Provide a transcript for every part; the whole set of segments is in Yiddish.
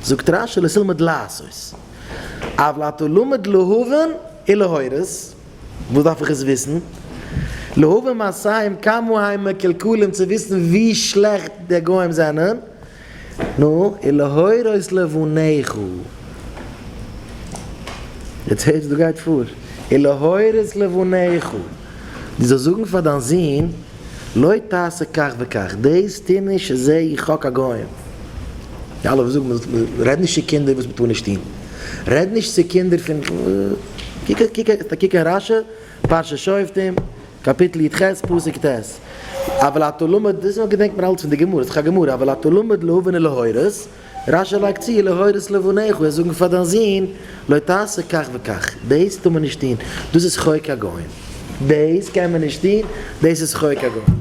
זאגט רשי לא תלמד לעשות, אבל אתה לומד להבין ולהורות, וואס דארף איך עס וויסן? להבין מעשיים כמה הם מקולקלים צו וויסן ווי שלעכט די גוים זענען, נו, ולהורות לבניך. יעצט הערסט וואס גייט פאר, ולהורות לבניך. דו זאלסט זאגן פאר דיין זון, לא תעשה כך וכך, דאס טו נישט, זע איך האק א גוים. די אלע וואס זאגן מען זאל, רעד נישט צו קינדער וואס מען טאר נישט טון, רעד נישט צו קינדער פון, קוק, קוק, קוק אין רשי, פרשת שופטים, קאפיטל יט ח, פסוק ט', אבל אתה לומד, דאס געדענקט מען אלץ פון די גמרא, ס'איז דאך א גמרא, אבל אתה לומד להבין ולהורות, רש י לייגט צו, להורות לבניך, וועסט זאגן פאר דיין זון, לא תעשה כך וכך, דאס טאר מען נישט טון, דאס איז חוק הגוים, דאס קען מען נישט טון, דאס איז חוק הגוים.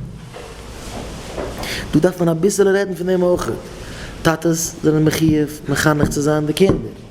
דא דארף מען אביסעלע רעדן פון דעם אויך, טאטעס זענען מחיוב מחנך צו זיין די קינדער.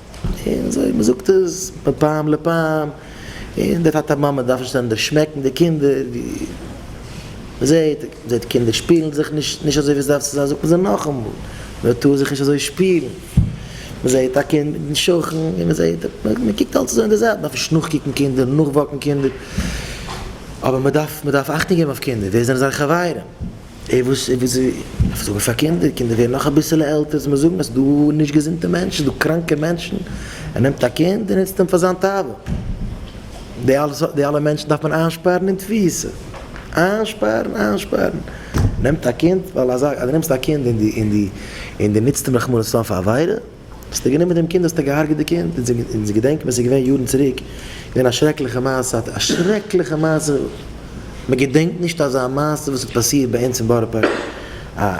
און אזוי מ'זאגט עס מפעם לפעם, און די טאטע מאמע דארפן שטענדיג שמעקן די קינדער, ווי מ'זעט, מ'זעט קינדער שפילן זיך נישט נישט אזוי ווי עס דארף צו זיין זאגט מען זיי נאכאמאל, מ'טאר זיך נישט אזוי שפילן, מ'זעט א קינד מיטן שכן, און מ'זעט, מ'קוקט אלץ אזוי אין די זייט, מ'דארף נישט נאכקוקן קינדער, נאכוואקן קינדער, אבער מ'דארף, מ'דארף אכטונג געבן אויף קינדער, ווער זענען זיינע חברים? ער וואס ער וואס איז זאגען פאר קינדער קינדער ווערן נאך אביסעלע עלטער זאל מען זאגען אז ס'דא נישט געזונטע מענטשען ס'דא קראנקע מענטשען ער נעמט א קינד און נוצט אים פאר זיין תאווה די אלע סארט די אלע מענטשען דארף מען איינשפארען אין תפיסה איינשפארען איינשפארען נעמט א קינד ווייל אזא אז די נעמסט א קינד און די און די און די נוצט אים רחמנא לצלן פאר עבירה. האסטו גענומען דעם קינד האסטו געהארגעט די קינד, אונז געדענקט מען ס'איז געווען יארן צוריק געווען א שרעקליכע מעשה א שרעקליכע מעשה מען געדענקט נישט אזא מעשה וואס האט פאסירט ביי אונז אין בארא פארק א מען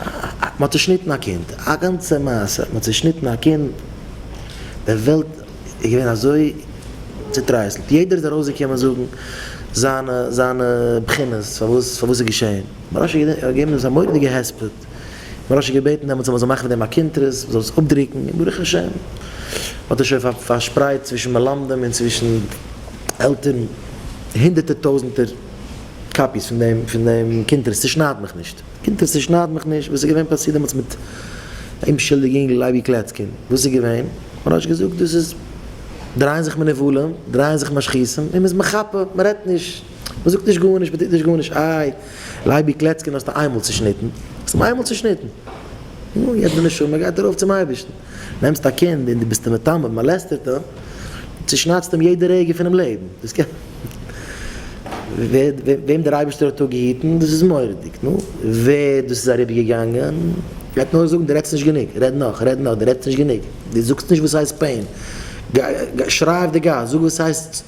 האט צושניטן א קינד א גאנצע מעשה מען האט צושניטן א קינד די וועלט איז געווען אזוי צוטרייסלט יעדער איז ארויס געקומען זאגן זיינע זיינע בחינות פארוואס פארוואס ס'איז געשען מרן ראש ישיבה האט געגעבן דעם א מורא'דיגע הספד. געזאגט און רשי געבעטן דעמאלטס אז מען זאל מאכן פון דעם א קונטרס מען זאל עס אפדרוקן און ברוך השם האט עס שוין פארשפרייט צווישן מלמדים און צווישן עלטערן הונדערטער טויזנטער קאפיס פון דעם פון דעם קונטרס צושנייד מיך נישט קונטרס צושנייד מיך נישט וואס איז געווען פאסירט דעמאלטס מיט א אומשולדיגע יונגל לייבי קלעצקין וואס איז געווען מען האט נישט געזאגט דאס איז דרייען זיך מנובלים דרייען זיך משחיתים און מען איז מחפה מען רעדט נישט. מען זאגט נישט גארנישט, מען טוט נישט גארנישט, איי, לייבי קלעצקין האסטו איינמאל צעשניטן, האסט אים איינמאל צעשניטן, נו, יעצט די נשמה גייט ארויף צום אייבערשטן, נעמסט א קינד און דו ביסט אים מטמא, מאלעסטערט אים, צעשניידסט אים יעדע רגע פונעם לעבן, דאס קען ווער, וועם דער אייבערשטער האט דא געהיטן, דאס איז מורא'דיג, נו, ווער דאס איז אריבערגעגאנגען, גייט נאר זאגן דו רעדסט נישט גענוג, רעד נאך, רעד נאך, דו רעדסט נישט גענוג, דו זאגסט נישט וואס הייסט פעין, שריי אויף די גאס, זאג וואס הייסט.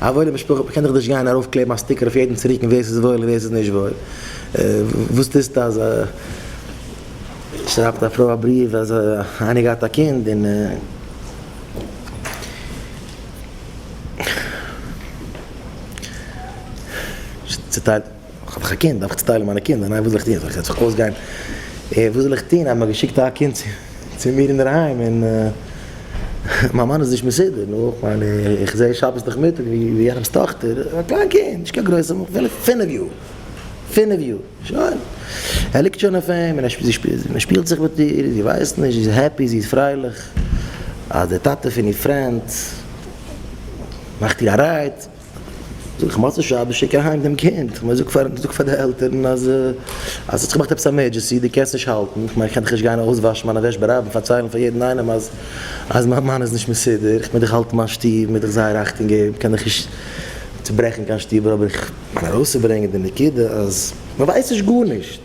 א וואוילע משפחה קען דאך נישט גיין ארויף קלעבן א סטיקער אויף יעדנס רוקן ווער ס'איז וואויל און ווער ס'איז נישט וואויל. וואס טוסטו אז שרייבט א פרוי א בריוו אז איינער געהאט א קינד און. כ'האב דאך א קינד, דארף איך צוטיילן מיינע קינדער? ניין וואס זאל איך טון? זאל איך זיך אויסגיין? וואס זאל איך טון אז מ'האט געשיקט א קינד צו מיר אינדערהיים און מיין מאן איז נישט מסודר? נו, כ'מיין איך זע שבת נאכמיטאג ווי יענעמ'ס טאכטער, א קליין קינד, נישט קיין גרויסער, אפילו פינף יאר, פינף יאר, שוין, ער ליגט שוין אויף אים און ער שפילט זיך מיט איר, זי ווייסט נישט, זי איז העפי, זי איז פרייליך אז דער טאטע פון איר פרענד מאכט איר א רייד. זאג איך מוצאי שבת שיק אהיים דעם קינד, כ'מיין זאג פאר זאג פאר די עלטערן אז אז ס'האט זיך געמאכט עפעס עמערדזשעסי, די קענסט נישט האלטן, כ'מיין כ'קען דאך נישט גיין אויסוואשן מיינע וועש ברבים פארציילן פאר יעדן איינעם אז אז מיין מאן איז נישט מסודר, כ'מיין דאך האלטן מיין שטוב, מ'איז דאך זייער אכטונג געבן, כ'קען דאך נישט צוברעכן קיין שטוב, אבער כ'מיין ארויסצוברענגען די נקודה אז מ'ווייסט נישט גארנישט.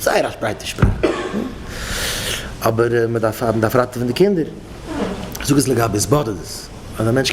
זייער א שפרייטע שפראך. אבער מען דארף ראטעווען די קינדער. זאג עס לגבי סבאדערט עס אז א מענטש.